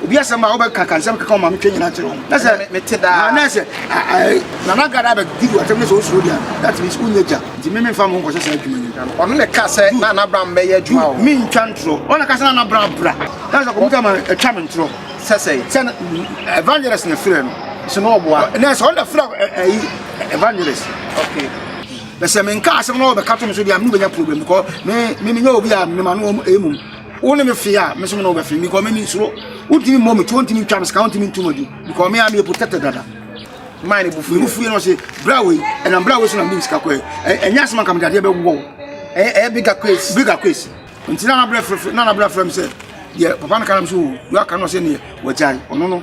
obi asɛm a wobɛka ka nsɛm keka ɔma metwa nyina kyerɛ wo na sɛ mete daa na sɛ nana gada bɛdi wo asɛm ne sɛ wosuro deɛ that means wonyɛ gya nti me memfa mo nkɔhyɛ saa adwuma yi ɔno ne ka sɛ na anabra mbɛyɛ adwuma o mentwa ntorɔ ɔna ka sɛ na anabra bra na sɛ kɔmputa ma ɛtwa me ntorɔ sɛ sɛ sɛ evangelist na frɛ no sɛ na ɔboa na sɛ ɔna frɛ ɛyi evangelist okay bɛsɛ menka asɛm na ɔbɛka to me so deɛ me no bɛnya problem because me me menyɛ obi a mema no ɛmum wo ne me fee a me so me na wobɛfee because me mensuro wontumi mmɔ me to wontumi ntwa me sika wontumi ntom adi because me a meyɛ protected dada maa ne bufui wo fui no ɔse bra wei ɛnam bra wei so na mede me sika kɔɛ ɛnyɛ asɛm anka mede adeɛ bɛwɔ wo ɛyɛ bigger case bigger case nti na nabrɛ frɛfrɛ na nabrɛ frɛ me sɛ deɛ papa no ka nam so wo aka no ɔsɛ neɛ wagyae ɔno no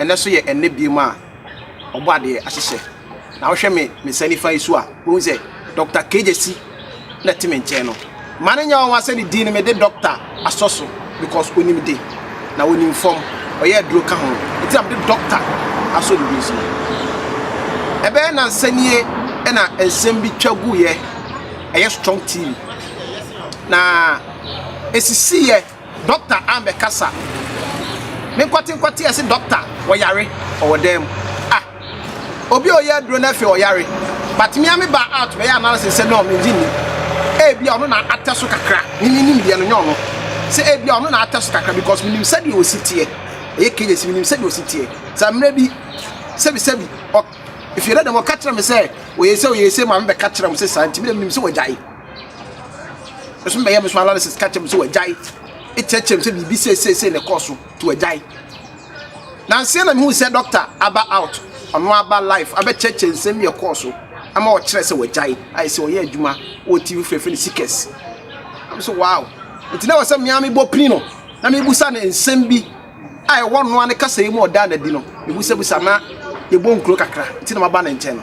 ɛnɛ so yɛ ɛnɛ biem a ɔbɔ adeɛ ahyehyɛ na wohwɛ me me nsa nifa yi so a wohu sɛ dɔkta kegyesi na ɛte me nkyɛn no ma no nyɛ wɔn asɛ ne din no mede dɔkta asɔ so because onim de na onim fam ɔyɛ aduro ka ho nti na mede doctor asɔ ne din so no ɛbɛyɛ nansa nie ɛna nsɛm bi twa gu yɛ ɛyɛ strong tv na esisi yɛ doctor ambɛkasa me nkwate nkwate ɛse doctor wɔyare ɔwɔ dan mu ah Obi a ɔyɛ aduro no afei ɔyare but me a me ba out bɛyɛ analysis sɛ no mengye nni. Ebia ɔno na atɛ so kakra, me me nimdeɛ no nyɛ ɔno. Sɛ ebia ɔno na atɛ so kakra because menim sɛdeɛ ɔsi teɛ. Ɛyɛ cages menim sɛdeɛ ɔsi teɛ. Sɛ mmerɛ bi sɛbi sɛbi ɔ if you let them ɔka kyerɛ me sɛ ɔyɛ sei ɔyɛ sei ma me bɛka kyerɛ wɔn sɛ saa nti me deɛ menim sɛ wagyae. Me nso mɛyɛ me so analysis ka kyerɛ me sɛ wagyae. Ɛkyerɛkyerɛ me sɛ biribi sei sei sei na ɛkɔɔ so nti wagyae. Nanse na mihu sɛ dɔkta aba out, ɔno aba life abɛkyerɛkyerɛ nsɛm bi a ɛkɔɔ so ama wɔkyerɛɛ sɛ wagyae. Ayɛ sɛ ɔyɛɛ adwuma wɔ TV foforo a wɔfrɛ no Seekers. Na mise, Wow! Enti na ɛwɔ sɛ me ara mebɔ pini no na mibisa no nsɛm bi a ɛwɔ ɔno ara ne kasa yi mu a ɔdaa no adi no, mibisabisa na yɛbɔ nkuro kakra. Enti na maba ne nkyɛn no.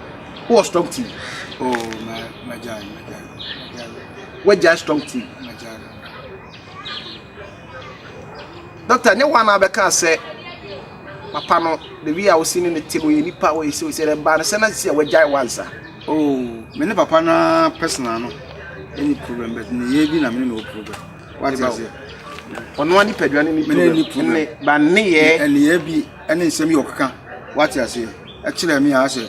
wowɔ strong team oh ma magyae magyae wagyae strong team magyae dɔkta nyɛ woa na abɛka sɛ papa no the way a wosi ne ne te no yɛ nipa a wɔyɛ sɛ ɔsɛ dɛ baa no sɛ na si a wagyae wansa oh me ne papa no personal no ɛni problem but ne yɛ bi na me ne na wɔ problem wate aseɛ ɔno a nipadua ne ne problem ne ba ne yɛ ne yɛ bi ɛne nsɛm yi a ɔkeka wate aseɛ ɛkyerɛ me a sɛ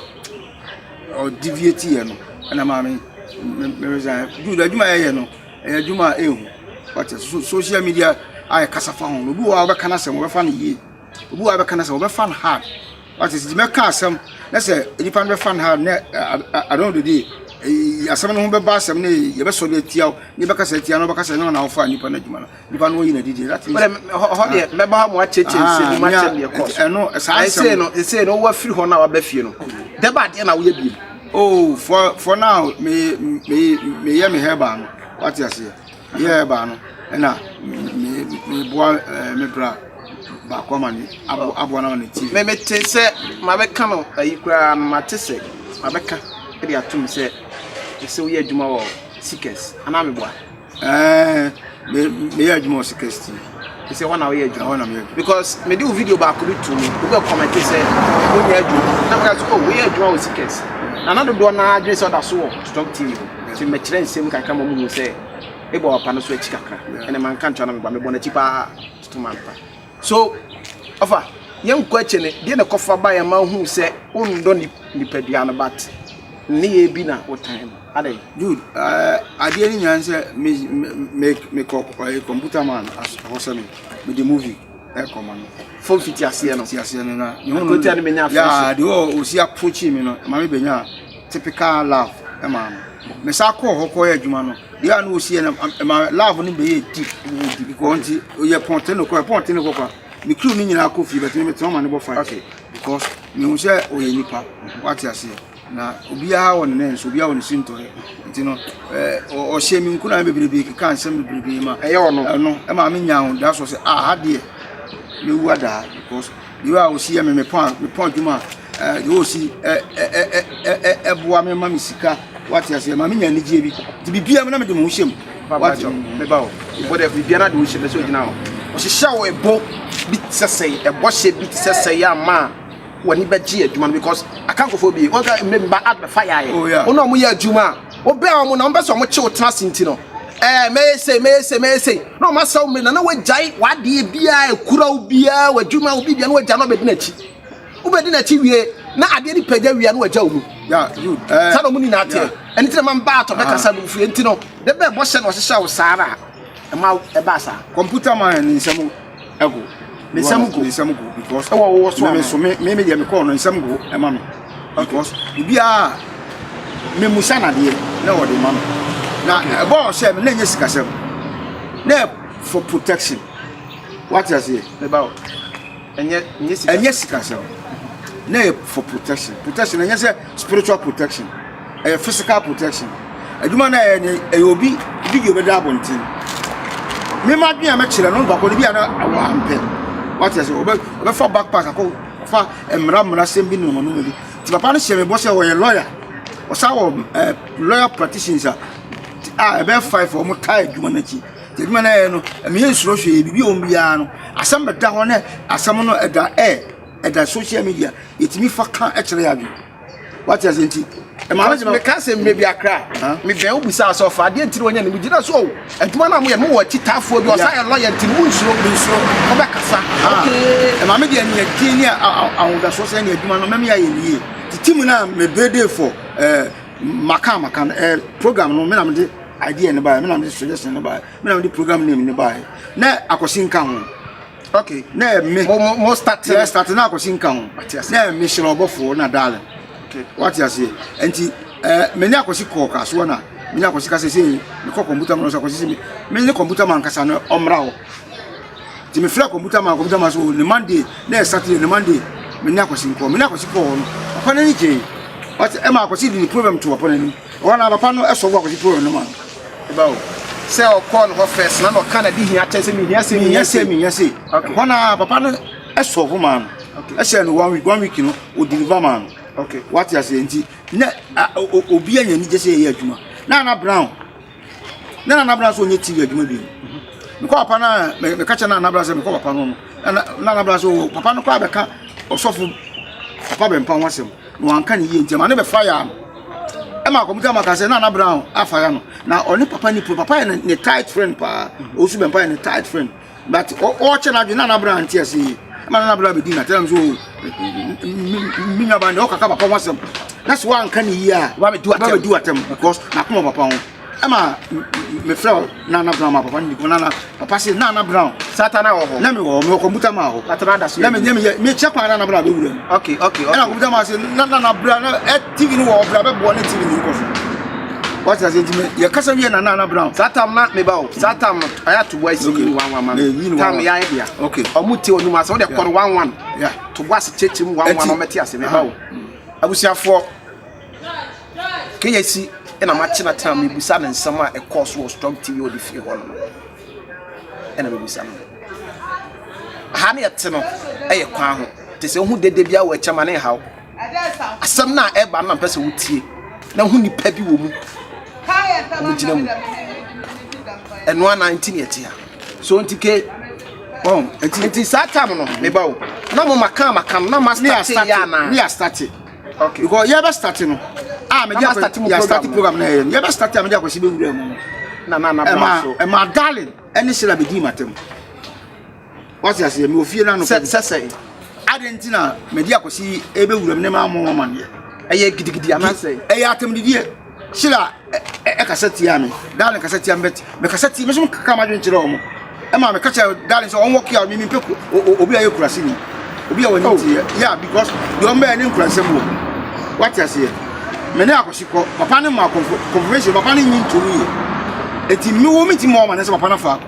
ɔdeviate yɛ no ɛna maa me me resign do adwuma a yɛyɛ no ɛyɛ adwuma a ɛhu wate so social media a yɛkasa fa ho no obi wɔ a wɔbɛka no asɛm wɔbɛfa no yie obi wɔ a wɔbɛka no asɛm wɔbɛfa no hard wate sɛ mɛka asɛm na sɛ nnipa no bɛfa no hard na adɔn dede asɛm no ho bɛba asɛm no yɛbɛsɔre atia wo ne bɛkasa atia no bɛkasa ne wɔn a wɔfa nnipa no adwuma no nipa no wɔyi n'adidi that means. bɛrɛ hɔ deɛ ah. mɛba ha mo akyɛkyɛ ah, nse mo akyɛm deɛ kɔ so ɛno saa asɛm ɛsɛ no ɛsɛ no wɔn afiri hɔ na wɔaba fie no dɛbɛ adeɛ na wɔyɛ biem. oh for for now me me me yɛ me hair bar no wate aseɛ me yɛ hair bar no ɛna me me boa ɛɛ eh, me bra baako ama ne abo aboa n'ama ne ti. mɛ mɛ te sɛ maa bɛ ka no ayi koraa no maa te sɛ maa bɛ ka ɛde atum sɛ ɛsɛ woyɛ adwuma wɔ seekers anaa mɛ boa. Ɛɛ me meyɛ adwuma wɔ Seekers TV. Ɛsɛ wɔn na wɔyɛ adwuma. Ɛwɔ na meyɛ adwuma because mede wo video baako bi to mu obi bɛ kɔmɛnte sɛ wonyɛ adwuma na meka sɛ o woyɛ adwuma wɔ Seekers na na dodoɔ no ara adwene sɛ ɔda so wɔ Strong TV hɔ nti mɛkyerɛ nsɛm kakra ma ɔmo hu sɛ ebɔ wapa no so akyi kakra ɛnna ma nka nkyɛn na meba mebɔ n'akyi paa to ma mpa so ɔfa yɛn nkɔ akyi ne deɛ na kɔfa ba yɛn ma hu sɛ wondɔ nipadua no bat ne yɛ bi na wotan no. Adɛn? Jude, adeɛ no nyinaa ne sɛ me me me kɔ ɔyɛ computer man hɔ sɛ me me de movie ɛkɔ ma no. Fɔm fiti aseɛ no. Fiti aseɛ no na. Akotia no bɛnya afiri so. Yaa de ɔ osi approaching mi no ma me bɛnya typical love ɛma no. Me sa kɔ hɔ kɔ yɛ adwuma no. Deɛ a na osi yɛ no ɛma love no bɛyɛ deep deep because nti yɛ pɔnte no kɔ pɔnte no kɔ kwa. Me crew no nyinaa kɔ fie bɛtumi me tɔn ma ne bɔ fight. Okay. Because me hu sɛ ɔyɛ nipa. Wate aseɛ. Na obiara wɔ ne nan so, obiara wɔ ne sintɔɛ. Nti no, ɔhyɛ me nkuran bebrebe keka nsɛm bebrebe ma. Ɛyɛ ɔno. Ɛno ɛma me nya ahoda so sɛ ah ha deɛ mewu adaa because the way a osi yɛ me me pɔn me pɔn adwuma ɛɛ the way osi ɛ ɛ ɛ ɛ ɛboa me ma me sika wate aseɛ ma me nya anigyeɛ bi nti biribiara mu na mede me ho hyɛ mu. Wate meba o. Bɔdɛ biribiara de wo hyɛ bɛ sɛ ogyina hɔ. Ɔhyehyɛ wo ɛbɔ bi te sɛ sɛe ɛbɔ hyɛ bi te sɛ sɛe ama a. w'ani bɛgye adwuma no because akankofoɔ bi wɔn ka mmɛ mba ad bɛfa yaayɛ oh, wɔn a wɔn yɛ adwuma a wɔbɛ a wɔn na wɔn bɛ sɛ wɔn kye wɔn tena ase nti no ɛɛ mɛyɛ sei mɛyɛ sei mɛyɛ sei na wɔn asɛw mmiri na na wɔagyae w'adeɛ biara ekura wo biara w'adwuma wo bi biara na wɔagya na wɔbɛdi n'akyi wobɛdi n'akyi wie na adeɛ no pɛgya wie na wɔagya wo mu eh. saa na wɔn nyinaa teɛ ɛne ti na ma mba atɔ bɛkasa ah. no fie nti no ne bɛɛ bɔ hyɛ na ɔhyehyɛ wo saa na ɛma ɛbaa saa kɔmputa ma ne nsɛm ɛgo nsɛm go nsɛm go because ɛwɔ wɔ so a so me me deɛ mekɔɔ no nsɛm go ɛma me because obiara memusa nadeɛ na ɔde ma me na ɛbɔɔ sɛ me na ɛnyɛ sikasɛm na for protection wate aseɛ meba wo ɛnyɛ sikasɛm na for protection protection ɛnyɛ sɛ spiritual protection Ɛyɛ physical protection adwuma no a yɛyɛ no ɛyɛ obi video bɛda abɔnten me ma adwene a mɛkyerɛ no baako no bi a na wampɛ wate ase ɔbɛfa backpack akɔ fa mmara mmara sɛm bi ne wɔn mu bi ti papa no hyɛ me bɔ sɛ ɔyɛ lawyer ɔsan wɔ ɛɛ lawyer practitioners a a ɛbɛyɛ five wɔn taa adwuma no akyi te adwuma no a yɛyɛ no ɛmɛ yɛ nsoro hwee biribi a wɔn biara no asɛm bɛda hɔ ne asɛm no ɛda ɛɛ ɛda social media yɛtumi fa ka ɛkyerɛ yɛ adwene. wate ase nti meka sɛ mmɛ bi akra mebɛn wo bisa sɛ ɔfa adeɛ ntiri wɔnyɛ ne megyina so o adwuma no a moyɛ mowɔ akyitaafoɔ bi ɔsa yɛ lɔyɛ nti no monsuro mensuro wobɛkasa ɛma me deɛ neɛ din ne ahodasoɔ sɛ ne adwuma no mɛmeyɛ ayɛ nie nti tim no a mebede fo maka maka no program no mena mede idea no baɛ mena mede suggestion no baɛ mena mede program name no baɛ na akɔsi nka ho okay na ɛme mo mo mo start yɛ start na akɔsi nka ho na ɛme hyerɛ ɔbɔfoɔ na darling okay wate aseɛ nti ɛɛ me ne akɔsi kɔɔ kasoɔ na me ne akɔsi kasa sɛ mekɔ kɔmputa mu no sɛ akɔsi sɛ me ne kɔmputa ma nkasa no ɔmmra hɔ nti mefrɛ kɔmputa ma kɔmputa ma so ne monday na ɛsatire ne monday me ne akɔsi nkɔɔ me ne akɔsi kɔɔ no ɔkɔ n'ani gyee wate ɛma akɔsi de ne problem to ɔpɔ n'anim ɔhɔ na papa no ɛsɔ bo akɔsi problem no ma no Ebao sɛ ɔkɔɔ no hɔ first na na ɔka n'adehia kyɛn sɛ mehia sei, mehia sei, mehia sei. Okay. Ɛhɔ na papa no sɔfo maa no. Okay. Ɛhyɛ no one week, one week no o deliver maa no. Okay. Wate aseɛ nti na obi anya anigye sɛ yɛyɛ adwuma. Na Nana Brown, na Nana Brown sɛ ɔnyɛ TV adwuma bi. Mekɔ papa no a, meka kyɛ Nana Brown sɛ mekɔ papa no no. Na Nana Brown sɛ oh, papa no kɔ abɛka ɔsɔfo papa bɛmpa ho asɛm. na wanka ne yie nti ɛma ne bɛfa yaa no ɛma akɔmta ma ka sɛ na anabra afa ya no na ɔne papa ne papa yɛ ne tight friend paa ɔsu bɛmpa yɛ ne tight friend but ɔkyɛ no adwene na anabra nte ase yie ɛma na anabra bɛdi natɛm nso menuaba ne ɔkaka papa ho asɛm na sɛ woanka ne yie a wabɛdi watɛm because nakoma papa ho ɛma mefrɛ wo nana brown ma papa no niko nana papa se nana brown satana wɔ hɔ na mewɔ hɔ mewɔ kɔmputa ma hɔ atena da so na menyɛ meyɛ mekyɛ kwan nana brown bɛwura mu ok ok ɛna kɔmputa ma se nana brown na eh, tv no wɔ ɔbra bɛboɔ ne tv no nkɔfo wati ase ntumi yɛ kasa wiye na nana brown. saa tam na meba o saa tam no a y'a to bɔ esi yi wan wan ma mi tam y'a yɛ bia ok ɔmu ti onum ase o de kɔrɔ wan wan to bɔ ase kyekye mu wan wan ɔmɛ ti ase meba o abusuafoɔ. Keyesi na matenatena mebisa no nsɛm a ɛkɔɔ so wɔ Strong TV a ɔde fie hɔ no ɛna mebisa no ha ne ɛte no ɛyɛ kwan ho te sɛ wohu dede bia wɔ akyɛma ne nhaw asɛm no a ɛba no na mpɛ sɛ wotie na ho nipa bi wɔ mu ɔmogyina mu ɛno ana nti ne ɛte ha so nti ke wɔn nti saa tam no meba o na mo maka maka no na ma starte yɛ anaa Okay. Because yɛ bɛ start no. Ah, me dia start mu program. Start program na yɛ. Yɛ bɛ start a me dia kwasi be wura mu. Na na na bla so. Ema ema darling, ɛne sira be di matem. What's your say? Me ofie na no. Sɛ sɛ sɛ. Adenti na me dia kwasi ebe wura mu ne ma mo ma ne. Ɛyɛ gidigidi anasɛ. Ɛyɛ atem didie. Sheila ɛkasa tia me darling kasa tia me bet mekasa tia me so kaka ma dwen kyerɛ ɔmo ɛma meka kyerɛ darling sɛ ɔnwɔ kia me mempɛ obi a yɛ kurase ni obi a wɔne oh. tiɛ yeah because deɛ ɔmo bɛyɛ ne nkurasɛm wɔ wate aseɛ me ne akɔsi kɔ papa ne ma confirmation papa ne nyi ntom yie eti me wo me ti mu ɔma ne sɛ papa na fa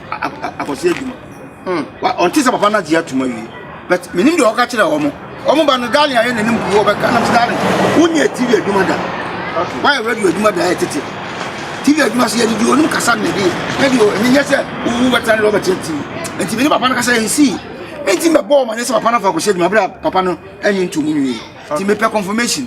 akɔsi adwuma Hmm, ɔnte sɛ papa no agye atom awie but menim deɛ ɔka kyerɛ wɔn wɔn ba no darling ayɛ n'anim kuo ɔbɛka nam sɛ darling wonyɛ tv adwuma da woayɛ radio adwuma da ayɛ tete tv adwuma so yɛde di onim kasa ne de ɛde o ɛmi nyɛ sɛ wowu bɛtena ne de ɔbɛkyerɛ tv nti mene papa no kasa ɛnsi ɛnti mɛbɔɔ ma ne sɛ papa no afa akɔhyɛ adwuma berɛ a papa no ɛnye ntom nwie nti mepɛ confirmation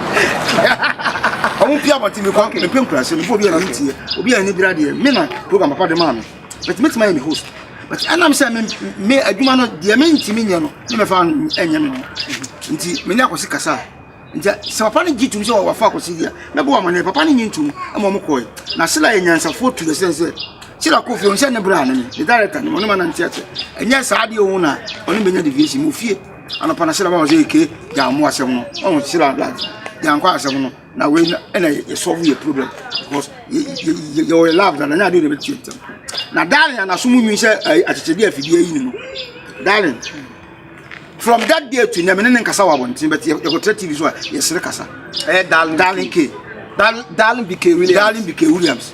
ɔmo pia abɔnten mi kɔ mi pɛ nkurase mi fɔ obi a na mi ti yɛ obi a ni bira deɛ mi na program papa de maa mi but mi ti ma yɛ mi host but ɛnam sɛ mi mi adwuma no deɛ mi nti mi nyɛ no mi mɛ fa ɛnyɛ mi no nti mi ni akɔsi kasa nti sɛ papa ne gyi tum sɛ wafa akɔsi deɛ mɛ bɔ amane papa ne nyi ntum ɛma ɔmo kɔɛ na sila yɛ nyansafoɔ tu yɛ sɛ sɛ sila kofi ɔnsɛ ne bira ne ne director ne ɔno ma na nti ɛsɛ ɛnyɛ saa deɛ ɔmo na ɔno bɛ nya deviation mo fie Anɔpa na Sila baa hɔ sɛ eke gya amu asɛm no. Ɔn Sila da gya nkɔ asɛm no. Na wei na ɛna yɛ solve yɛ problem because yɛ yɛ wɔ love dada nya de de bɛtwe ntɛm. Na darling na so mu nwi sɛ akyekyɛde afidie ayi ne no. Darling from that day to nyame ne ne nkasa wɔ abɔnten bɛte yɛkɔtra tv so a yɛsere kasa. Ɛyɛ darling darling k darling darling bk williams darling bk williams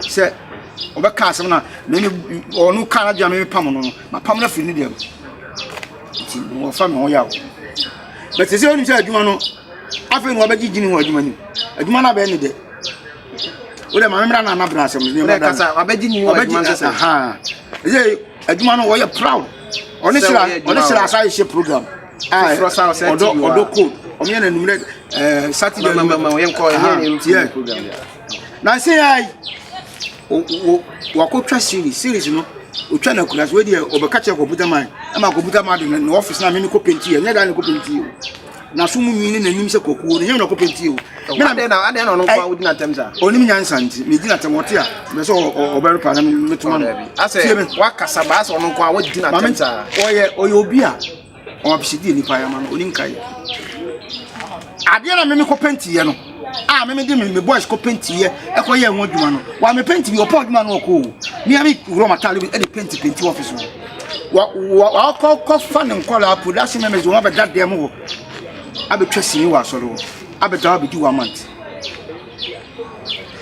Sɛ ɔbɛka asɛm na me ne ɔno ka n'adwene a mepam no no mapam no afiri ne deɛ mu nti wɔfa me ho yaw but sɛ sɛ wonim sɛ adwuma no afei na wɔbɛgye gyini wɔ adwuma no adwuma no abɛyɛ ne dɛ wodɛ ma memmra no anabra asɛm no wabɛgye nyini wɔ adwuma no sɛ sɛ adwuma no wɔyɛ proud ɔne hyira ɔne hyira asa hyɛ program a ɔdɔ ɔdɔ code ɔmo yɛ na numrɛ saturday mama yɛnkɔ yɛ program Nansa yi ara yi, o o wakɔtwa series. Series no, ɔtwa no akura so. Wei deɛ, ɔbɛka kyerɛ kɔmputa man. Ɛma kɔmputa man de no na ɔfis na me mekɔ penti yɛ. Nyɛ daa na ɛkɔ penti yɛ o. Na so mu nwi ne n'anim sɛ kɔkuo no, nyɛ na ɔkɔ penti yɛ o. Me na adɛn na adɛn na ɔno nko ara wodi n'atɛm saa. Ɔnim nyansa nti, medi n'atɛm ɔte a, mɛ sɛ ɔbɛre pa na metoma no. Asɛ, wakasa baa sɛ ɔno nko ara wodi n'atɛm saa. Ɔyɛ ɔyɛ obi a. Ɔwɔ abisadeɛ nipa ayɛ ama no ɔni nkae adeɛ na meme kɔ pɛntiiɛ no a meme de me boys kɔ pɛntiiɛ ɛkɔ yɛ ho adwuma no wa me pɛnti bi ɔpɔ adwuma no ɔkɔ o mea me wura matale bi ɛde pɛnti pɛnti ɔfis hɔ wakɔ kɔfa ne nkɔla production members wɔn abɛda dɛm hɔ abɛtwa sini wɔ asɔre hɔ abɛda abɛdi one month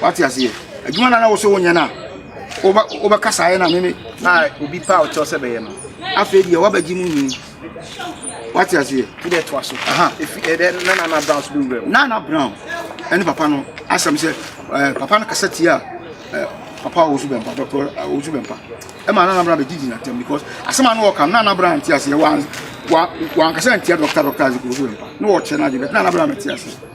wate aseɛ adwuma na na wosɛ wonyɛ no a wobɛkasaeɛ na meme na obi paa ɔkyɛw sɛ bɛyɛ no afei deɛ woabɛgye mu nyi wate aseɛ wodɛ toa so nana brown so bɛwura mu nana brown ɛne papa no asɛm sɛ papa no kasa tie a papa a wɔsu bɛmpa dɔkɔ wɔsu bɛmpa ɛma nana brown bɛgye gyina tam because asɛm a no wɔka nana brown nte aseɛ wankasa ntia dɔkta dɔkta ase kɔ wɔsu bɛmpa na wɔkyɛ no ade bɛt nana brown bɛte aseɛ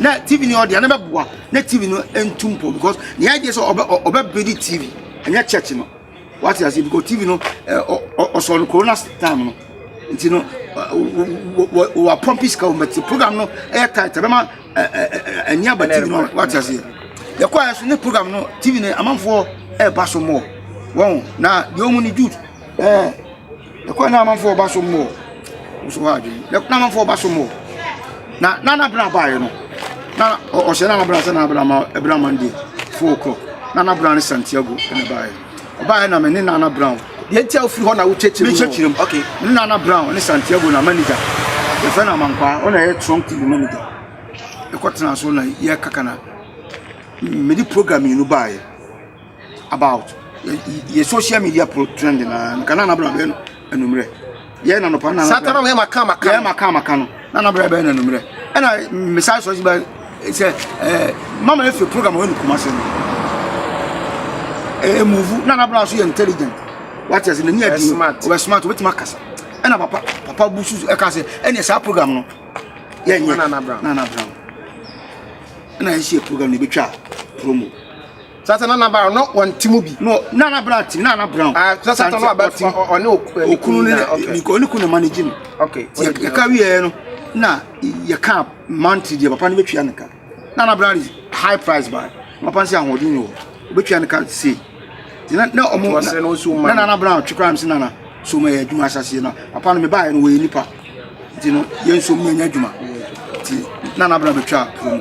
Na TV ni ɔde anabɛ boa na TV no ntu mpɔ because the idea sɛ ɔbɛ ɔbɛ bedi TV ɛnyɛ church no wate ase because TV no ɔsɔ no corona time no nti no wa pɔmpi sika wɔn bɛti program no ɛyɛ tight ɛbɛma ɛni aba TV no wate ase yɛkɔ ayɛ so ne program no TV no amanfoɔ ɛɛba so mɔ wɔn na deɛ wɔn ni jude ɛɛ. Ɛkwan na amanfoɔ reba so mmɔ nso hɔ adwene na ɛkwan amanfoɔ reba so mmɔ na na n'abena baeɛ no na ɔhyɛ na n'abena sɛ n'abena ma ɛbena mande four o'clock na n'abena ne santiago na ɛbaeɛ ɔbaeɛ na me ne nana brown deɛ nti a ofiri hɔ na wokyɛkyerɛ mu mekyɛkyerɛ mu okay ne nana brown ne santiago na manager yɛfrɛ no amankwaa ɔna ɛyɛ trunk tv manager ɛkɔtena so na yɛkaka na mede program mmienu baeɛ about yɛ social media pro trend na nka na anabra bɛyɛ no anummerɛ yɛ na nɔpa na sata na yɛ maka maka yɛ maka maka no na anabra bɛyɛ no anummerɛ ɛna mesae sɔ si bɛ sɛ ɛɛ mama efi program wɔ ne kuma se no ɛɛ muvu na anabra so yɛ intelligent wate ase n'ani adi ɔbɛ smart ɔbɛtumi akasa ɛna papa papa bu susu ɛka sɛ ɛna saa program no yɛ nyɛ na anabra na anabra ɛna yɛ si yɛ program na ebetwa promo. Satan na n'abaa no wɔ nti mu bi. No na n'abaa nti na n'abaa no. Ah sɛ satan na ɔbɛ ti ɔne okunu ne nka ɔne kunu ma ne gyi no. Ok. Yɛ ka wi yɛ no na yɛ ka monthly deɛ papa no bɛ tua ne ka na n'abaa no high price ba papa no sɛ ahoɔden ni wɔ bɛ tua ne ka se na na ɔmo na na n'abaa no twekura no se na na so ma yɛ adwuma asaseɛ na papa no me baa yɛ no wɔ yɛ nipa. nti no yɛn nso mu yɛnyɛ adwuma nti na anabra bɛtwa kurom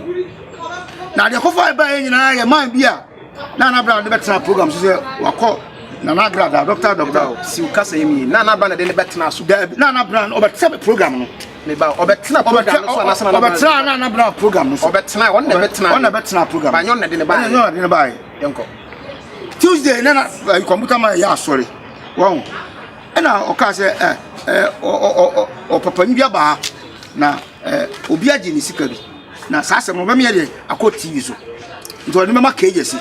na adeɛ kɔfa ɛbaa yɛ nyinaa yɛ man bi a na anabra de bɛtena program so sɛ wakɔ nana abira da dɔkta dɔkta o si o kasa yɛn mi nana abira na de ne bɛ tena so dɛbi nana abira ɔbɛ tẹ bɛ program no ne ba ɔbɛ tena program no so anase nana abira ɔbɛ tena nana abira program no so ɔbɛ tena ɔn na bɛ tena ɔn na bɛ tena program ba nyɔn na de ne ba yɛ nyɔn na de ne ba yɛ yɛn kɔ tuesday nana kɔmputa ma yɛ asɔre wɔn. Ɛna ɔkaa sɛ ɛ ɛ ɔpapa no bi aba ha na ɛ obi agye ne sika bi na saa asɛm no bɛmeyɛ deɛ akɔ tv so nti ɔde bɛma kagya si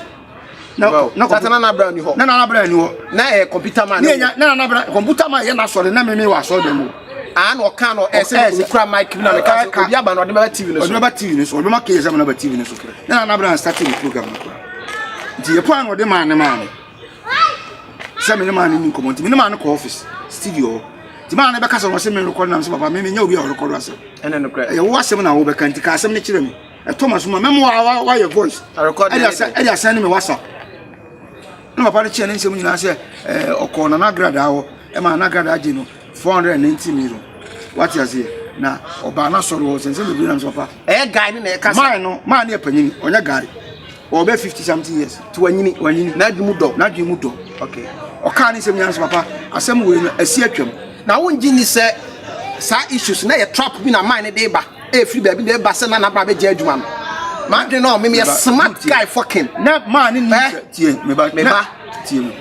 na na kɔmpu- na nabra ni hɔ na nana bra ni hɔ na ɛyɛ kɔmputa ma ne yɛ nya na nana bra kɔmputa ma yɛ na sɔre na meme wɔ asɔre dɛm o aa na ɔka no ɛsɛ Ɛsɛ. ne kura mic bi na meka sɛ Ɛka. obi aba na ɔde bɛba tv no ɔde so bɛba tv no so ɔde bɛma kagya sɛ mena ba tv no so na nana bra start ne program no kora nti yɛ kwan na ɔde maa ne maa no sɛ me ne maa no ni nkɔmmɔ nti me ne maa no kɔ office studio hɔ nti maa no bɛka sɛ ɔsɛ me rekɔdo nam sɛ papa me menyɛ obi a ɔrekɔdo asɛm ɛne no korɛ ɛyɛ wo asɛm na wobɛka nti ka asɛm no kyerɛ me ɛtɔ ma soma mɛmo a wayɛ voice ɛde asɛn ne me whatsapp na papa no kyerɛ ne nsɛm nyinaa sɛ ɔkɔɔ na nagradaa hɔ ɛma nagradaa gye no 490 million wate aseɛ na ɔbaa no asɔre hɔ sɛnsɛ bebree nam sɛ papa ɛyɛ guy ne na ɛka sɛ maa no maa no yɛ panyini ɔnyɛ guy ɔwɔ bɛ fifty something years ti wanyini wanyini n'adwene mu dɔ n'adwene mu dɔ okay ɔkaa ne nsɛm nyinaa nso papa asɛm wei no asi atwam na wongye nni sɛ saa issues na yɛ trap bi na man ne de ba ɛfiri e baabi na ɛba sɛ na nabra bɛgye adwuma no madwene no ɔmem yɛ smart guy fucking na maa ne nim sɛ tie meba meba tie mu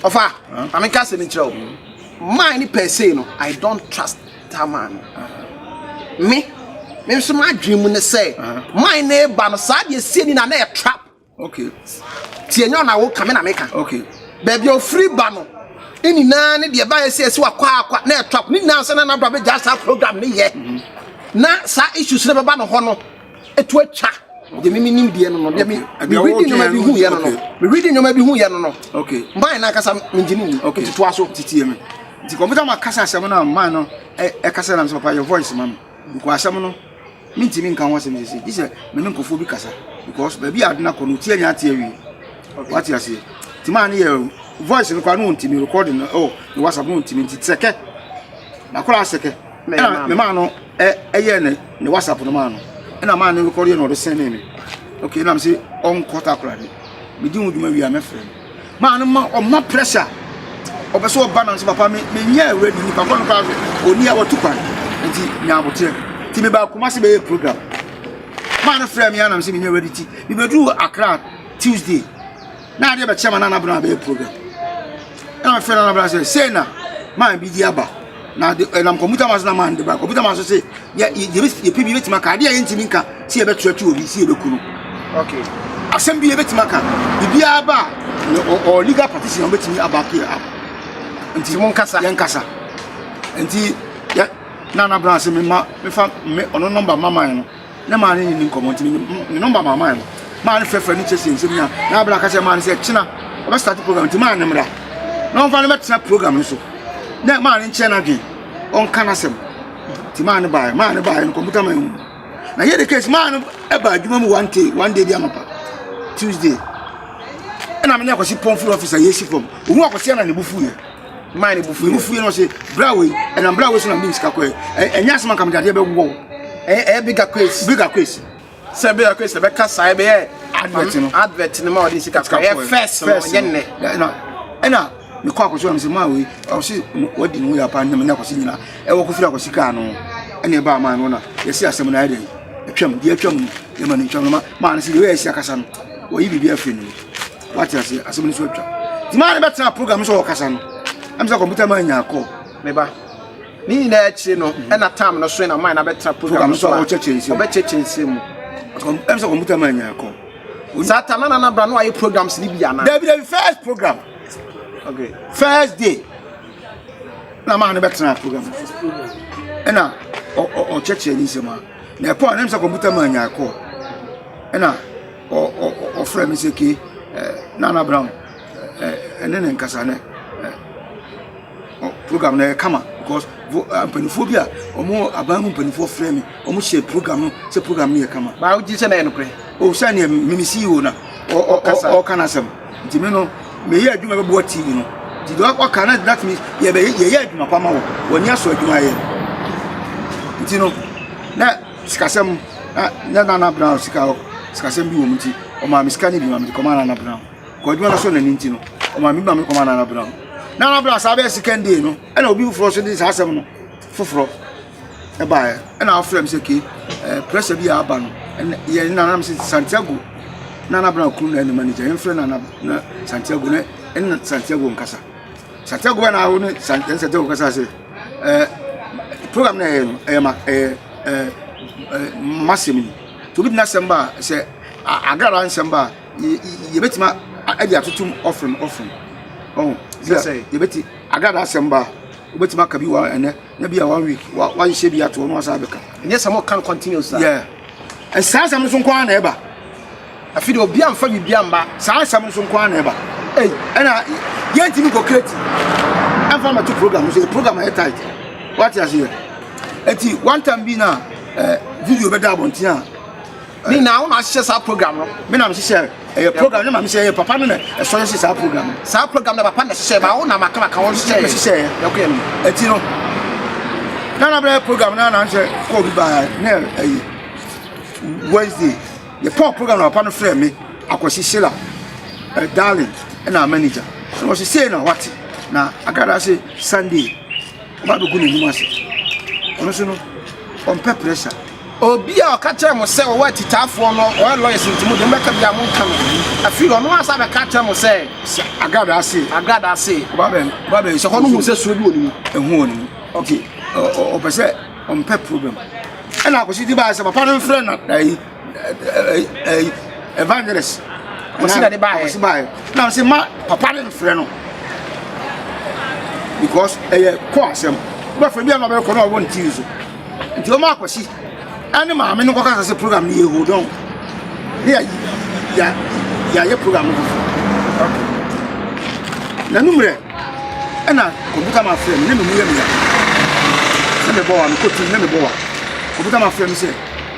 ɔfa ameka sɛ ne kyerɛ o maa ne pɛ sei no i don't trust Tamar no. Me me nso m'adwene mu ne sɛ man na eba no saa deɛ sie ni na na yɛ trap. Okay. Tie nyɛ ɔna wo kame na meka. Okay. Baabi a ofiri ba no ne nyinaa ne deɛ ɛbaeɛ sɛ ɛsi wakɔ akɔ na yɛ trap ne nyinaa sɛ na n'abra bɛgya saa program ne yɛ na saa issues no bɛba no hɔ no. ɛtu atwa deɛ mimi nim deɛ no no deɛ mi mi read nneɛma bi hu yɛ no no mi read nneɛma bi hu yɛ no no mmaa na akasa mi ngye ne ni tutu aso titi yɛ mi nti kɔmputa ma kasa asɛm na mmaa no ɛkasa e, na mi sɛ papa yɛ voice ma mi nkɔ asɛm no mi ntumi nka ho asɛm sisi gye sɛ mi ne nkɔfoɔ bi kasa because baabi a adena kɔ no tie nya ate awie wate aseɛ ti maa ne yɛ voice no kora no ntumi recording no ɛwɔ ne whatsapp no ntumi nti sɛkɛ na kora sɛkɛ ɛna mmaa no. ɛ ɛyɛ ne ne whatsapp no maa no ɛna maa ne rekɔdeɛ na ɔde sɛnee me ok na me se ɔnkɔ takoradi medi ho dwuma wie a mɛfrɛ no maa no ma ɔma pressure ɔpɛ sɛ ɔba nam sɛ papa me menyɛ awuradi nipa kɔ no koraa so ɔni a watu kwan nti nya aboteɛ nti mebaa kuma se bɛyɛ program maa no frɛ me anam sɛ menyɛ awuradi ti mebɛduru akra tuesday na adeɛ bɛkyɛ ma nana bena bɛyɛ problem ɛna mefrɛ nana bena sɛ sei na man bi di aba na de ɛnam kɔmputa ma so na man de ba kɔmputa ma so sɛ yɛpɛ bi yɛbɛtumi aka adeɛ a yɛntumi nka sɛ yɛbɛtoatoa obi sɛ yɛbɛku no okay asɛm bi yɛbɛtumi aka biribiara ba a ɔ legal practitioner wobɛtumi abake a nti mo nkasa yɛn nkasa nti yɛ na na bra se me ma me fa me ɔno nɔmba mama no Na maa no ne no nkɔmmɔ nti ne nɔmba maa maa no maa no frɛfrɛ no kyerɛkyerɛ nsɛm nyinaa na abira ka kyerɛ maa no sɛ kyena ɔbɛ start program nti maa no mmra na ɔmfa no bɛtena program no so na maa no nkyerɛ no adwen ɔnka no asɛm nti maa no baeɛ maa no baeɛ no kɔmputa maa mu na yɛ de case maa no ɛba adwuma mu one day one day bi amapa tuesday ɛna me ne akɔsi pɔm firi ɔfisa yɛsi fam ɔhu akɔsi ɛna ne bu fuiɛ maa ne bufu ne fue na ɔse bra wei ɛnam bra wei so na mede sika kɔɛ ɛnyɛ asɛm anka mede adeɛ bɛwɔ wo ɛyɛ bigger case bigger case sɛ bɛyɛ ɔkɛ sɛ bɛka saa bɛyɛ advert no advert no ma ɔde sika kɔ ɛyɛ first no ɔnyɛ nnɛ ɛna ɛna mekɔ akɔso am sɛ maa wei ɔse wadi ne ho yɛ apa nnam ne akɔse nyina ɛwɔ kɔfiri akɔse kaa no ɛne ɛbaa maa no na yɛsi asɛm no ayɛ dɛn atwam deɛ atwam no yɛma no ntwam no ma maa no sɛ deɛ ɔyɛ asi akasa no wɔyi biribi afiri no wate aseɛ asɛm no so atwa nti maa ne bɛtena program no sɛ ɔkasa no ɛm sɛ kɔmputa ma nyaa kɔɔ me ba ne nyinaa akyire no ɛna tam no so na maa na bɛtena program no so a ɔbɛkyɛkyɛ nsɛm mu ɛm sɛ kɔmputa ma nyaa kɔɔ saa tam na nana bra no ayɛ programs ne bi anaa dabi dabi first program okay first day na maa ne bɛtena program no so ɛna ɔkyɛkyɛ ne nsɛm a na ɛkɔɔ na ɛm sɛ kɔmputa ma nyaa kɔɔ ɛna Ɔ ɔ ɔ ɔfrɛ me sɛ ke ɛ Nana Brown ɛ ɛne ne nkasa nɛ ɛ ɔ program no ɛyɛ kama because vo ɛ mpanimfoɔ bi a wɔn aban mu mpanimfoɔ frɛ me wɔn hyɛ program no sɛ program no yɛ kama. Baa wogye sɛ na ɛyɛ nokorɛ? O sɛ neɛ me me CEO na ɔ ɔ ɔ ɔka n'asɛm nti me no meyɛ adwuma bɛboa TV no nti deɛ ɔka na that means yɛbɛ yɛyɛ adwuma pa ma wɔ wɔn ani asɔ adwuma a yɛyɛ no nti no na. Sikasɛm, Na na Nana Brown sika hɔ sikasɛm bi wɔ mu nti, ɔmaa me sika no bi ma mede kɔmaa Nana Brown. Kɔ adwuma no so na ne nti no, ɔmaa me bi ma mede kɔmaa Nana Brown. Nana Brown saa bɛyɛ second day no, ɛna obi foforɔ nso de saa asɛm no foforɔ baeɛ. Ɛna ɔfrɛ me sɛ, Kee, eh, pressure bi a aba no, ɛna yɛ nna na me sɛ Santiago, Nana Brown kunu na ɛne manager, yɛmfrɛ Nana na Santiago na ɛne Santiago nkasa. Sata Gua na awo ne Santɛn Sata Gua kasa sɛ, eh, program na ɛyɛ no, ɛyɛ ma, ɛyɛ, eh, eh, masɛm yi. To bi tena asɛm ba a, sɛ agrada nsɛm ba a, yɛbɛtumi adi atotom ɔfrem ɔfrem. Oh, sɛ sɛ yɛbɛti agrada asɛm ba a, wobɛtumi aka bi wɔ ɛnɛ, na bi a one week, wahyehyɛ bi ato hɔ na wasan abɛka. Ɛnyɛ sɛ mo kan continuous a. Yeah. Ɛsaa asɛm no so nko ara na ɛba. Afei deɛ obi amfa biribi amma saa asɛm nso nko ara na ɛba ei ɛna yɛntumi nkɔ kreti ɛmfa mɛto program nso yɛ program ayɛ tight wate aseɛ ɛti one time bi na eh, video bɛda abɔnten a ne nyinaa wo na ahyehyɛ saa program no me na mehyehyɛ ɛyɛ program ne ma mehyɛ ɛyɛ papa no na ɛsɔ yɛhyɛ saa program no saa program na papa na hyehyɛ ma wo na maka maka wɔn hyehyɛ yɛ hyehyɛ yɛkɔyɛ no ɛti no na na bɛyɛ program no na nhyɛ kɔɔ bi baa ne ɛyi wednesday Yɛtɔɔ program na papa no frɛɛ me Akwasi Sela eh, darling ɛna manager na wɔsi sei na wate na akradaa se Sunday ɔba bɛgu n'anim ase ɔno so no ɔmpɛ pressure obi a ɔka kyerɛ mo sɛ ɔwɔ atitaafoɔ no ɔyɛ lawyers nti mo de mbɛka bi a mo nka no afei ɔno asa bɛka kyerɛ mo sɛ agrada ase agrada ase ɔba bɛn ɔba bɛn sɛ hɔ no mu sɛ suo bi wɔ ne mu ɛho wɔ ne mu okay ɔpɛ sɛ Ɔmpɛ problem. Ɛna akwasi ti baa sɛ papa no mfrɛ na ɛyi ɛyi evangelist. Akwasi na de baa akwasi baa na ɔsɛ ma papa no mfrɛ no because ɛyɛ kɔ asɛm bɛfrɛ bi a na ɔbɛkɔ na ɔwɔ ne tiri so nti ɔma akwasi ɛne maame no kɔka sɛ program no yɛ hold on ne yɛ yɛ yɛ program no na numrɛ Ɛna obi ka ma frɛ me, na me mu yɛ me ya. Na me bɔ wa, me kɔ tu, na me bɔ wa. Obi ka ma frɛ me sɛ,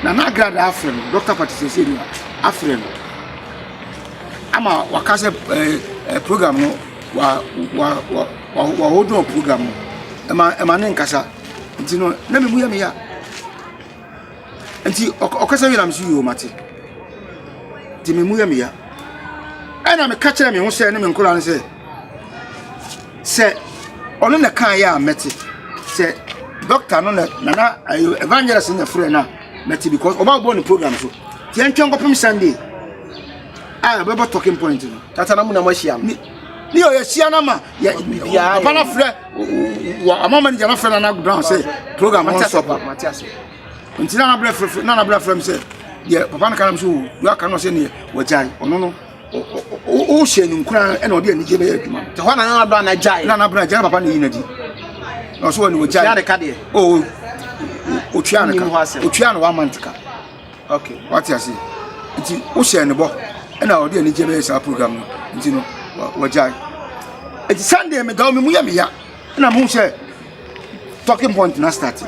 na na agrada afrɛ no, Dɔkta Pati sɛsɛ ni wa, afrɛ no. Ama waka sɛ ɛɛ eh, eh, program no, wa, wa, wa, wa, wa hold on program no. Ɛma, ɛma ne nkasa. Nti no, na me mu yɛ me ya. Nti ɔkasa wie na me so yio mate. Nti me mu yɛ me ya. Ɛna me ka kyerɛ me ho sɛ, ne me nkora no sɛ, sɛ ɔno na kaeɛ a mɛte sɛ doctor no na nana ayo evangelist na frɛ no a mɛte because ɔba bɔ ne program so nti ɛntwɛn nkɔpem sunday a ɛbɛbɔ talking point no tata na mu na moahyia no ne yɛ yɛhyia no ma papa no frɛ ama manager no frɛ nana brown sɛ program no nsɔ pa nti nana brɛ frɛ nana brɛ frɛ m sɛ deɛ papa no ka nam so wɔ aka no sɛ neɛ wɔgyae ɔno no wohyɛ no nkuran ɛna ɔde anigye bɛyɛ adwuma no. ɛhɔ na nana abena na gyae. nana abena gyae na papa na eyi na di na ɔso wɔ ne ogyae. tia ne ka deɛ. oo otua ne ka otua ne one month ka. ok wate ase nti wohyɛ ne bɔ ɛna ɔde anigye bɛyɛ saa program no nti no wɔgyae nti sunday medaw me mu yɛ meya. ɛna mo sɛ talking point na start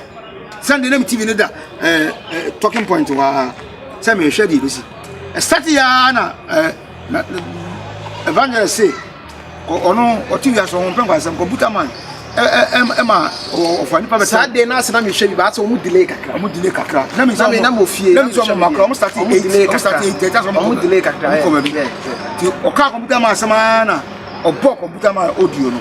sɛnde na me tv no da eh, eh, talking point waa sɛ mehwɛ deɛ bɛsi ɛstart yɛa na eh, evangelist se ɔno ɔte wiase ɔho mpɛ nkwansɛm computer man ɛma ɔfa nipa bɛ saa den n'ase na mi hwɛ bi ba ase ɔmu delay kakra ɔmu delay kakra na mi sɛ ɔmu na mi ofie na mi sɛ ɔmu makora ɔmu start eight ɔmu start eight ɛgya sɛ ɔmu delay kakra ɔmu kɔ baabi ti ɔka computer man asɛm ara na ɔbɔ computer man audio no.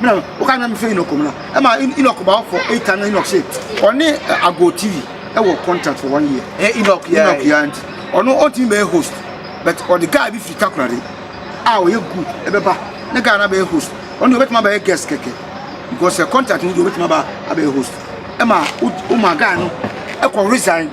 Bena no, woka nyame fɛ Enoch mu no, ɛma Enoch ba ɔfɔ eight time na Enoch se ɔne Ago TV ɛwɔ contract for one year. Ɛ Enoch yɛ Enoch yɛ anti ɔno ɔntumi bɛyɛ host but ɔde guy bi firi Takoradi a ɔyɛ good ɛbɛba ne guy na bɛyɛ host ɔno deɛ ɔbɛtumi abɛyɛ guest kɛkɛ because contract no deɛ ɔbɛtumi aba abɛyɛ host ɛma woma guy no ɛkɔ resign.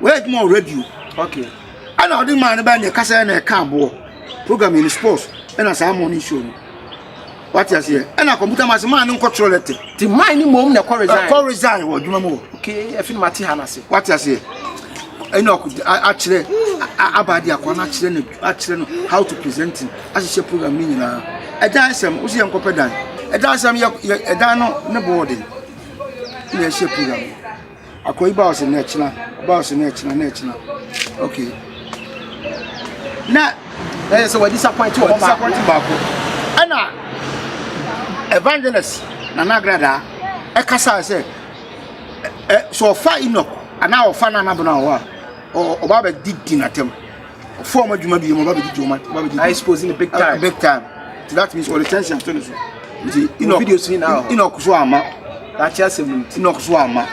Wɔyɛ adwuma wɔ radio. Okay. Ɛna ɔde maa no bɛyɛ nea ɛkasa yɛ na ɛka aboɔ. Program yɛ ne sports ɛna saa morning show no. Wate aseɛ. Ɛna computer man sɛ maa no nkɔ twerɛ lɛtɛ. Ti man ne mom na ɛkɔ resign. Ɛkɔ resign wɔ adwuma mu wɔ. Okay, ɛfi no mate ha no ase. Wate aseɛ. Ɛna ɔko akyerɛ aba de akɔ no akyerɛ no akyerɛ no how to presenting ahyehyɛ program ne nyinaa. Ɛdan sɛm wosi yɛ nkɔpɛ dan. Ɛdan sɛm yɛ ɛdan no ne board. Na ɛhyɛ program. Akoyi baa ɔse na ɛkyena, ɔbaa ɔse na ɛkyena, na ɛkyena. Okay. Na ɛyɛ sɛ wadi disappoint wɔ hɔ baako. Disappoint baako. Ɛna evangelist Nana Agradaa ɛkasa sɛ ɛ sɛ ɔfa Enoch anaa ɔfa Nana Bono a ɔba bɛdidi n'atɛm. fo ɔmo adwuma bi yɛ ɔmo ba bɛgye ɔmo ɔmo bɛgye I expose in the big time big time so that means ɔde tension to ne so nti ina video si na ina ɔko so ama lakye asɛm no nti ina ɔko so ama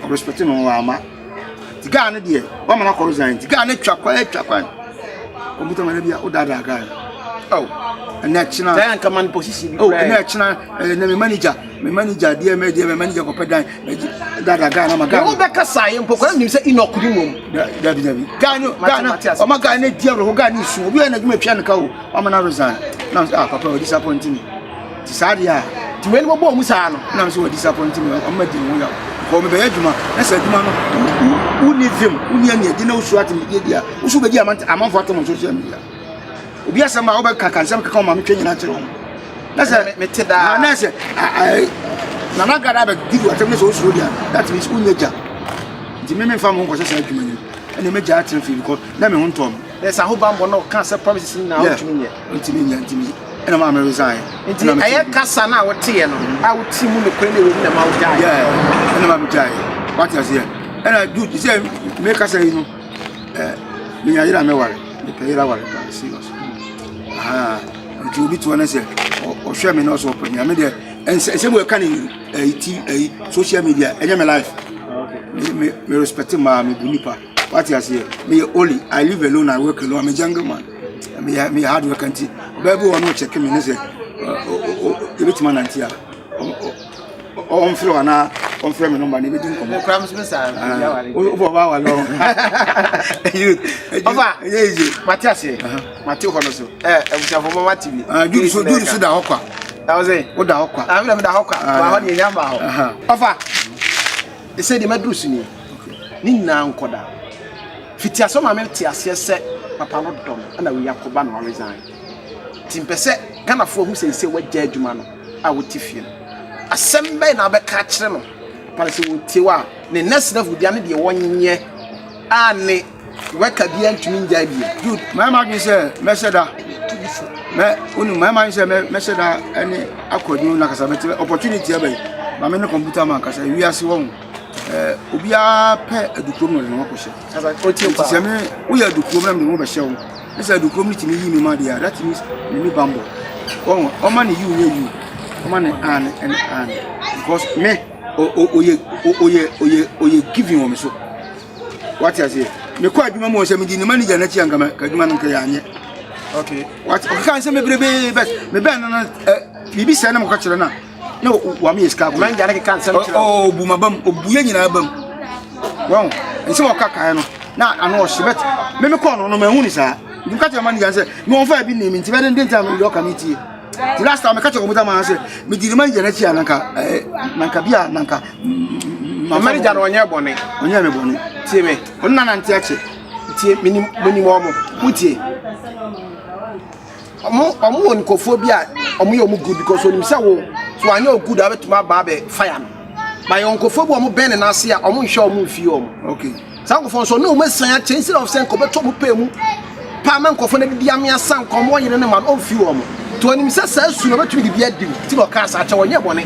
ɔmo respect no ɔmo ama ti gaa ne deɛ wɔn mana kɔrɔ zan ti gaa ne twa kwan twa kwan ɔmo tɛ mɛrɛ bi a ɔda da gaa ɛnɛ kyina ɛnɛ kyina ɛnɛ manager. me manager deɛ mɛ deɛ mɛ manager kɔpɛ dan dada ghana ma ghana. yɛn bɛka saa yɛ mpɔ kwan nim sɛ inok bi mom. dabi dabi ghana ghana ɔma ghana di awerɛho ghana nsu obi a na adwuma tua ne ka o ɔma na resign nam sɛ ah papa wɔ disappoint me ti saa deɛ a. ti wei ni mo bɔ ɔmu saa no. nam sɛ wɔ disappoint me ɔma di mu ya kɔ mi bɛyɛ adwuma na sɛ adwuma no wuni vim wuni ani adi na wosu ati mi di adi a wosu bɛ di amanfo ato mo social media. obi asɛm a wobɛka ka nsɛm keka ɔma metwa nyina kyerɛ wɔn na sɛ mete daa na sɛ nana gada abɛdidi atɛm ne sɛ wosuro deɛ that means wonyɛ gya nti me memfa mo nkɔhyɛ saa adwuma no ɛne mɛgya atena fie because na me ho ntɔ me na sɛ ahobammɔ na ɔka sɛ promises nyinaa wotumi nyɛ ntumi nyɛ ntumi ɛna maa me resign nti ɛyɛ kasa no a woteɛ no a woti mu nokorɛ na ɛwɔ mu na ma wogyae ɛna maa megyae wate aseɛ ɛna dude sɛ mekasa yi no Eh, menya yere a mɛware, mepɛ yere aware paa, serious. Aha, nti obi toɔ no sɛ ɔhwɛ me na ɔsɛ ɔpɛ me a, me deɛ ɛnsɛ mu ɛka ne ɛyi eh, ti ɛyi eh, social media ɛnyɛ me life. Me me me respect maa me bu nipa. What you say? Me only I live alone, I work alone. I'm a jungle man. Me me hard work nti. Baabi wɔ no check me ne sɛ, ebe tuma nanti a. ɔmfrɛ anaa ɔmfrɛ me nɔmba na ɛbɛdi nkɔmmɔ kora me so me saa wobɔ ɔba awale ɔ ɔba ɛyɛ ɛgye mate aseɛ mate hɔ no so abusuafoɔ ma mate bi duru so duru so da hɔ kwa ɛwɔ sɛ woda hɔ kwa amena meda hɔ kwa ma hɔ deɛ ɛnya ma hɔ ɔfa ɛsɛ deɛ maduru so nie ne nyinaa nkɔda fiti asɛ ma mete aseɛ sɛ papa no dɔm ɛna wei akɔba na waresign nti mpɛ sɛ ghanafoɔ hu sɛ sɛ wagya adwuma no a wote fie no, asɛm bɛn na wobɛka akyerɛ no ma sɛ wɔtie wo a ne nnɛsrɛfo bia ne deɛ wɔnyɛ a ne wɛka bia ntumi ngyae bia good mayɛ m'adwene sɛ mɛhyɛ da mɛ wonu mayɛ m'adwene sɛ mɛhyɛ da ɛne akwadwo na kasa bɛtɛ opportunity ɛbɛn ma me ne kɔmputa ma nkasa wiase wɔ ho eh, obiara pɛ adukurom na ɔde ne ho akɔhyɛ sɛ me woyɛ adukurom na mede ho bɛhyɛ wo Ne sɛ do kurom no tumi yi nneɛma deɛ a that means n'ani bammɔ wɔn ɔma ne yiw nyɛ yiw ɔma ne aane ɛne aane because me oyɛ oyɛ oyɛ oyɛ giving wɔ me so wate aseɛ mekɔ adwuma mu wɔ sɛ medi ne manager n'akyi anka ka adwuma no nka yɛ anyɛ okay wate ɔkeka nsɛm bebrebe but mebɛn no no biribi sɛ na mekɔkyerɛ no a na wɔn yɛ sika kɔn gya ne keka nsɛm kyerɛ ɔ ɔbu ma bam ɔbu yɛ nyinaa bam wɔn nsɛm ɔka kan no na ano ɔhyɛ bɛt meme kɔɔ no no ma ɛhu ne saa nti meka kyerɛ ma ne gya sɛ me wɔn fa bi ne mi nti bɛde nde ntam yɛ ɔka me tie ti last time meka kyerɛ wɔn dama sɛ medi ne ma ne gya n'akyi a nanka ɛɛ nanka bi a nanka mama ne gya no ɔnyɛ bɔne ɔnyɛ me bɔne tie me ɔno na nante akyɛ tie menim menim wɔn mo wotie ɔmo ɔmo wɔ nkorɔfoɔ bi a ɔmo yɛ ɔmo good because onim sɛ wo so anyɛ o good a wobɛtumi aba abɛ fire no ba yɛ nkorɔfoɔ bi a ɔmo bɛn ne n'ase a ɔmo nhwɛ ɔmo mfie ɔmo okay saa nkorɔfoɔ nso ɔno ɔmo asan akyɛ instead of sɛ nka ɔbɛtɔ ɔmo pɛɛ mu paa ma nkorɔfoɔ no adidi ame asa nka ɔmo ɔyere ne ma no ɔmfiri ɔmo nti ɔnim sɛ saa su no ɔbɛtumi de bi adi wo ti na ɔkaa saa kyɛ ɔnyɛ bɔne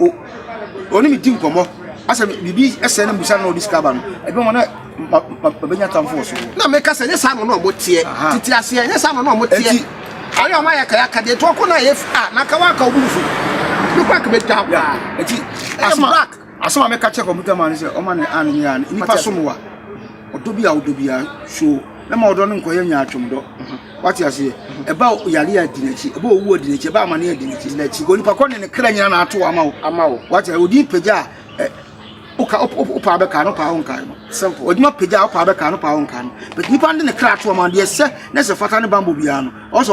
o ɔne me di nkɔmmɔ asɛ biribi ɛsɛ na mbisa na ɔde sika ba no ɛbi wɔn na mabɛnya tamfo wɔ so. na meka sɛ nyɛ saa na ɔne ɔmo teɛ tete aseɛ nyɛ saa na ɔne ɔmo teɛ ayɛ ɔmo ayɛ kayaka deɛ tɔkɔ no ayɛ a na nka wanka ɔmo nfu ne kora kɛmɛ twa paa ɛti ɛyɛ black asɛm a meka kyɛ kɔmputa ma no sɛ ɔma ne a ne nyɛ a nipa som wa ɔdɔ bi a ɔdɔ bi a so na ma ɔdɔ no nkɔyɛ nyaatwom dɔ wate aseɛ ɛba yare a di n'akyi ɛba owuo a di n'akyi ɛba amane a di n'akyi n'akyi wɔ nipa kɔ ne ne kra nyina na ato ama wo ama wo wate odin pagya a woka wopaa bɛka no paa wonkae no simple odwuma pagya a wopaa bɛka no paa wonkae no but nipa no de ne kra ato ama deɛ sɛ na sɛ fata ne bambɔ biara no ɔsɛ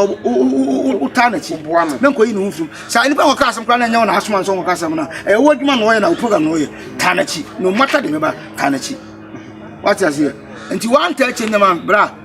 wotaa n'akyi boa no na nkɔyi ne ho mfirim saa nipa nkɔka asɛm koraa na ɛnyɛ wo na asoma nsɛ nkɔka asɛm no a ɛyɛ wo adwuma na ɔyɛ na wo program na ɔyɛ taa n'akyi no mata de bɛba taa n'akyi wate aseɛ nti woanta akyi nnɛma bra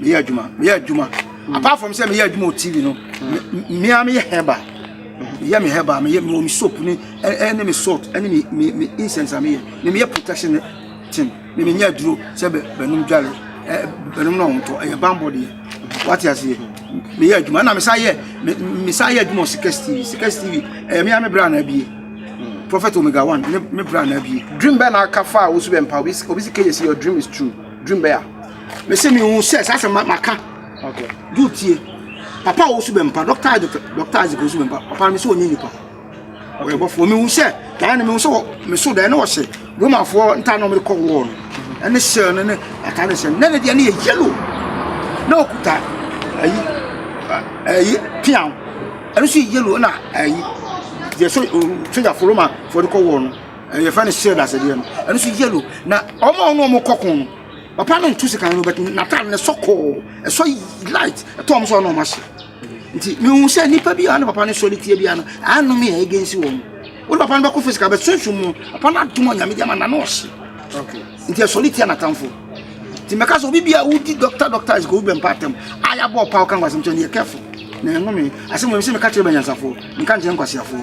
meyɛ adwuma meyɛ adwuma mm. apart from sɛ meyɛ adwuma wɔ tv no mmea meyɛ hɛba meyɛ me hɛba meyɛ mewɔ me soap ne ɛne me salt ɛne me me me incense a meyɛ me meyɛ protection ne ten me menyɛ aduro sɛ bɛnum dwale ɛ bɛnum na ɔntɔ ɛyɛ bambɔ deɛ wate aseɛ meyɛ adwuma ɛna mesa yɛ mesa yɛ adwuma wɔ sikɛs tv sikɛs tv ɛyɛ mea me bra na abie mm. prophet omega one ne me bra na abie dream bɛɛ na aka fa a wosu bɛ mpa obi si kɛyɛ si your dream is true dream bɛɛ a mese mehu sɛ saa sɛ maka du tie papa a wɔsu bɛmpa dɔkta agye dɔkta agye kɔsu bɛmpa papa no mesɛ ɔnyɛ nipa ɔyɛ bɔfoɔ mehu sɛ daa no mehu sɛ meso daa ne wɔhyɛ romafoɔ ntaa na ɔmede kɔ wɔɔ no ɛne hyɛ no ne ata ne hyɛ no na ne deɛ ne yɛ yellow na ɔkuta ayi ayi piaw ɛno so yɛ yellow na ayi deɛ so sogyafoɔ romafoɔ de kɔ wɔɔ no yɛfrɛ no hyɛ dasedeɛ no ɛno so yellow na ɔma ɔno ɔmo kɔko no Papa no nto sika no bɛtum n'ataade no sɔ kɔɔ ɛsɔ light ɛtɔ ɔmo sɛ ɔno ɔmo ahyɛ nti mehu sɛ nipa bi a ne papa no sɔ ne tie bia no ano me a ɛgɛnsi wɔn wode papa no bɛkɔ fisika bɛ sunsun mu papa no adom a nyame diama na no ɔhye nti ɛsɔ ne tie n'atamfo nti mɛka sɛ obi bi a wodi doctor doctor is good bɛmpa atam a yɛabɔ ɔpa woka nkwasɛm kyɛ no yɛ careful na ɛno me asɛm wɔ me sɛ meka kyerɛ bɛnyansafoɔ meka nkyerɛ nkwasiafoɔ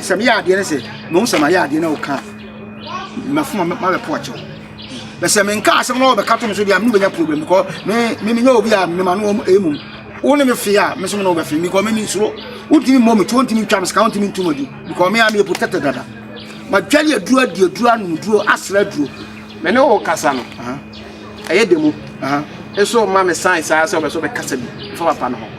sɛ meyɛ adeɛ no sɛ mahu sɛ mayɛ adeɛ no woka mafoma mabɛpo akyɛw bɛ sɛ menka asɛm na wɔbɛka to me so deɛ mene wobɛnya problem because memenyɛ obi a mema no ɛmum wo ne me fee a me so me ne wobɛfe me because meme suro wontumi mmɔ me tu wontumi ntwa me sika wontumi ntu madu because me a meyɛ protected dada madwale aduro adi aduro anom duro asra aduro me ne wo kasa no ɛyɛ demo nso ma me sign saa sɛ wobɛ so bɛkasa bi fa papa no ho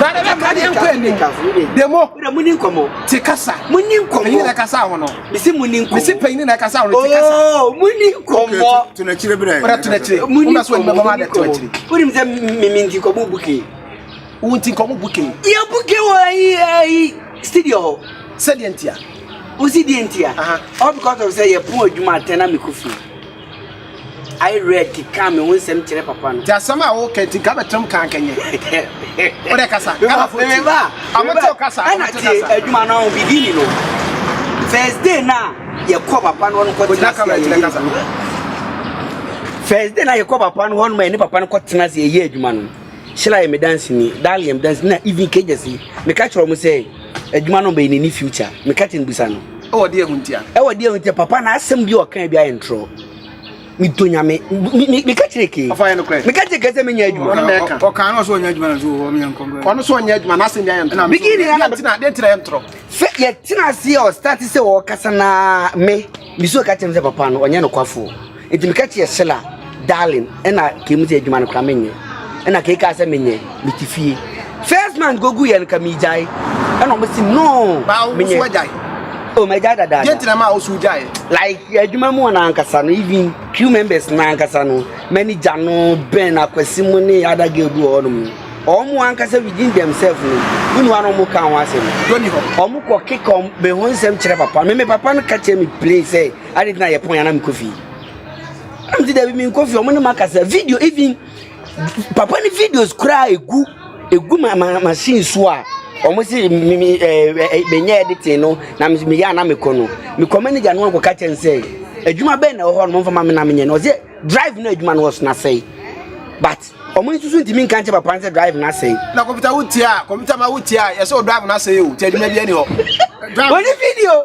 Bɛrima ka deɛ nkɔ ani. Demo. Te kasa. Panyin na ɛkasa ho no. Mesi panyin na ɛkasa ho no te kasa. Oh, muni nkɔmɔ. To n'akyire bere. Bere to n'akyire. Muni nkɔmɔ. Wona so ɛnibɛbɔ ma de to n'akyire. Wonim sɛ mimi nti nkɔmɔ buke. Wo nti nkɔmɔ buke. Yɛ buke wɔ ayi ayi studio hɔ. Sɛdeɛ ntia. Wosi deɛ ntia. All because of sɛ yɛ pon adwuma atɛn na mekɔ fie. I read ka me ho nsɛm kyerɛ papa no. Ti asɛm a woka ti ka bɛtɛm kan kɛnyɛ. O de kasa. Kana fo ti. Amo ti o kasa. Ana ti adwuma no beginning no. First day na ye kɔ papa no no kɔ tena se ye kasa. First day na ye kɔ papa no no ma ne papa no kɔ tena se ye adwuma no. Shila ye me dance ni, Dalium dance na even kejesi. Me ka kyerɛ mo sɛ Adwuma no bɛyɛ n'ani future. Me kati no bisa no. Ɛwɔ deɛ ho ntia. Ɛwɔ deɛ ho ntia papa na asɛm bi ɔkan bi ayɛ ntorɔ. Me dɔ nyame. Me ka kyerɛ ke. Ɔfa yɛ no korɛ. Me ka kyerɛ ke sɛ menya adwuma. Ɔno mɛ ka. Ɔkan no so ɔnya adwuma na so wɔ me yɛnkɔ nkɔ. Ɔno so ɔnya adwuma na asɛm bi ayɛ ntorɔ. Bigi ni na tina deɛ tina yɛ ntorɔ. Sɛ yɛ tina se ɔ start sɛ ɔkasa na me. Me so ka kyerɛ sɛ papa no ɔnyɛ no kwafo. Enti meka kyerɛɛ Sela, Darling, ɛna kei mu sɛ adwuma no koraa menyɛ. Ɛna kei kaa sɛ menyɛ, mete fie. First month gogu yɛ no ka megyae. Ɛna ɔmo si no menyɛ. Oh, magyae dadaada. Deɛ ntina maa wosu gyae. Like adwuma mu na ankasa no even crew members na ankasa no manager no Ben Akwasi mu ne other girl bi wɔ hɔnom no ɔmo ankasa within themselves no wonu ara ɔmo ka ho asɛm ɔmo kɔ keka ɔmo bɛ ho nsɛm kyerɛ papa me me papa no ka kyerɛ me play sɛ Ade nti na yɛ pon ya na me kofi. Na me ti da bi me kofi omo ne makasa video even papa ne videos kura egu egu ma ma machine so a omo se me me eh, eh, eh me nya editing no na me me ya na me ko no. Me ko manager no ko ka chen se adwuma bɛn na ɛwɔ hɔ no mfa ma me na me nyɛ no ɔsɛ drive no adwuma no ɔso na sɛe but ɔmo nsusu ntumi nka nkyɛ papa nsɛ drive no asɛe na kɔmputa wotia a kɔmputa ma wotia a yɛsɛ o drive no asɛe o ti adwuma bi ani hɔ wɔne video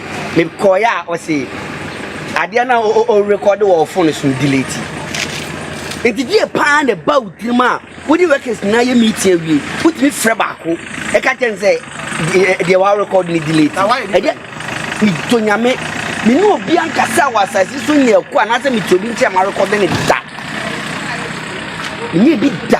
Me kɔɔeɛ a ɔse adeɛ no a o rekɔde wɔ ɔfone so no delete. Nti deɛ paa na ɛba wo tirim a wode workers nyinaa yɛ meeting awie wotumi frɛ baako ɛka kyɛn sɛ deɛ wa record ne delete. Ɛdeɛ medɔ nyame me ne obi ankasa wɔ asase so nyɛ ɛko anaasɛ mete obi nkyɛn ma record ne da. Nyɛ bi da.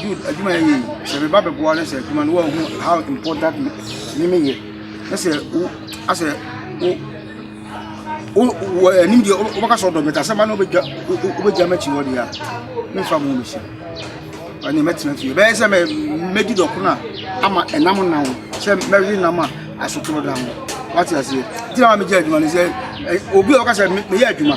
Jude adwuma yɛ yie sɛ meba bɛboa no sɛ adwuma no wɔahu how important ne me yɛ na sɛ wo asɛ wo wo anim deɛ wobɛka sɛ ɔdɔ bɛta sɛ ma no wobɛgya wobɛgya m'akyi hɔ deɛ a memfa mo mɛsi ɛne mɛtena fie bɛyɛ sɛ mɛdi dɔko no a ama ɛnam nna ho sɛ mɛwe nam a asotorɔ da ho wate aseɛ gyina ma megya adwuma no sɛ obi a ɔka sɛ meyɛ adwuma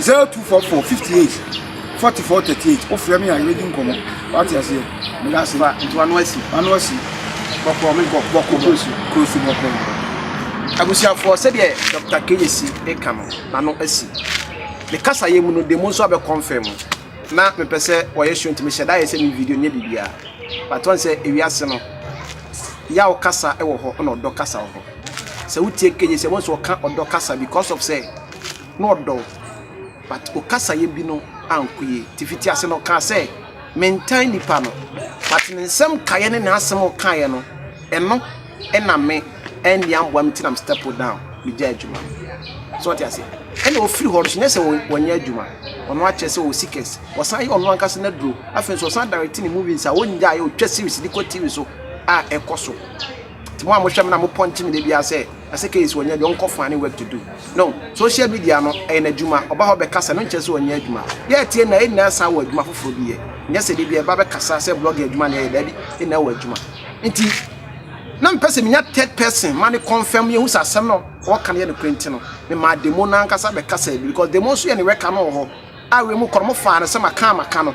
Zero two four four fifty eight forty four thirty eight o fira mi a yɛ bɛ di nkɔmɔ wa ti ase yɛ mi da se. ba nti wa no asi. wa no asi. bɔkɔ mi bɔ bɔkɔ kurosu kurosu bɔkɔ. abusuafoɔ sɛdeɛ dɔkta keyesi eka no na no asi ne kasa yɛ mu no de mu nso abɛ kɔnfɛ mu na mi pɛ sɛ wɔ yɛ show nti mi hyɛ da yɛ sɛ mi video nyɛ bibia but wɔn sɛ ewiase no yaw kasa wɔ hɔ na ɔdɔ kasa wɔ hɔ sɛ wo tie keyesi ɛwɔ nso ɔka ɔdɔ kasa because of sɛ. na ɔdɔ wo but wo kasayɛ bi no anko yie. Nti fiti ase no ɔkaa sɛ mentan nipa no but ne nsɛm kaeɛ ne n'asɛm ɔkaeɛ no ɛno ɛna me ɛnni amboa me ti na me step down megya adwuma no. So ɔte ase ɛna ɔfiri hɔ no so nyɛ sɛ wɔnyɛ adwuma ɔno akyerɛ sɛ ɔwɔ sikɛs ɔsan yɛ ɔno ankasa no aduro afei nso ɔsan direct ne movies a ɔngyaeɛ ɔtwa series de kɔ TV so a ɛkɔ so. Mo a mo hwɛ me na mo pɔnkye me da biara sɛ Aseke is ɔnyɛ adwuma ɔnkɔ fane work to do no social media no ɛyɛ n'adwuma ɔba hɔ bɛkasa no nkyerɛ sɛ ɔnyɛ adwuma yɛ tie na ɛnyinaa saa wɔ adwuma foforɔ bi yɛ nyɛ sɛ de bi ɛba bɛkasa sɛ blog adwuma na ɛyɛ daabi ɛnyinaa wɔ adwuma nti na mpɛ sɛ menya third person ma ne confirm yɛhu sɛ asɛm no ɔka no yɛ no korɛ nti no mema demo no ankasa bɛkasa bi because demo nso yɛ ne wɛka no wɔ hɔ Awe mu kɔn mo faa no sɛ maka a maka no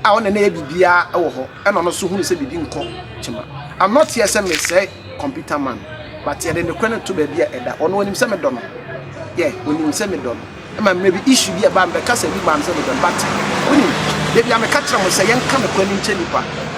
a ɔne nɛyɛ biribiaa wɔ hɔ ɛna ɔno nso hunu sɛ biribi nkɔ kyema I'm not here sɛ mesɛe computer man but yɛde nokorɛ no to baabi a ɛda ɔno ɔnim sɛ medɔ no yeah ɔnim sɛ medɔ no ɛma mmerɛ bi issue bi ɛbaa mebɛka sɛ bi maa no sɛ medɔ no but wonim dabia meka kyerɛ mo sɛ yɛnka nokorɛ no nkyɛ nipa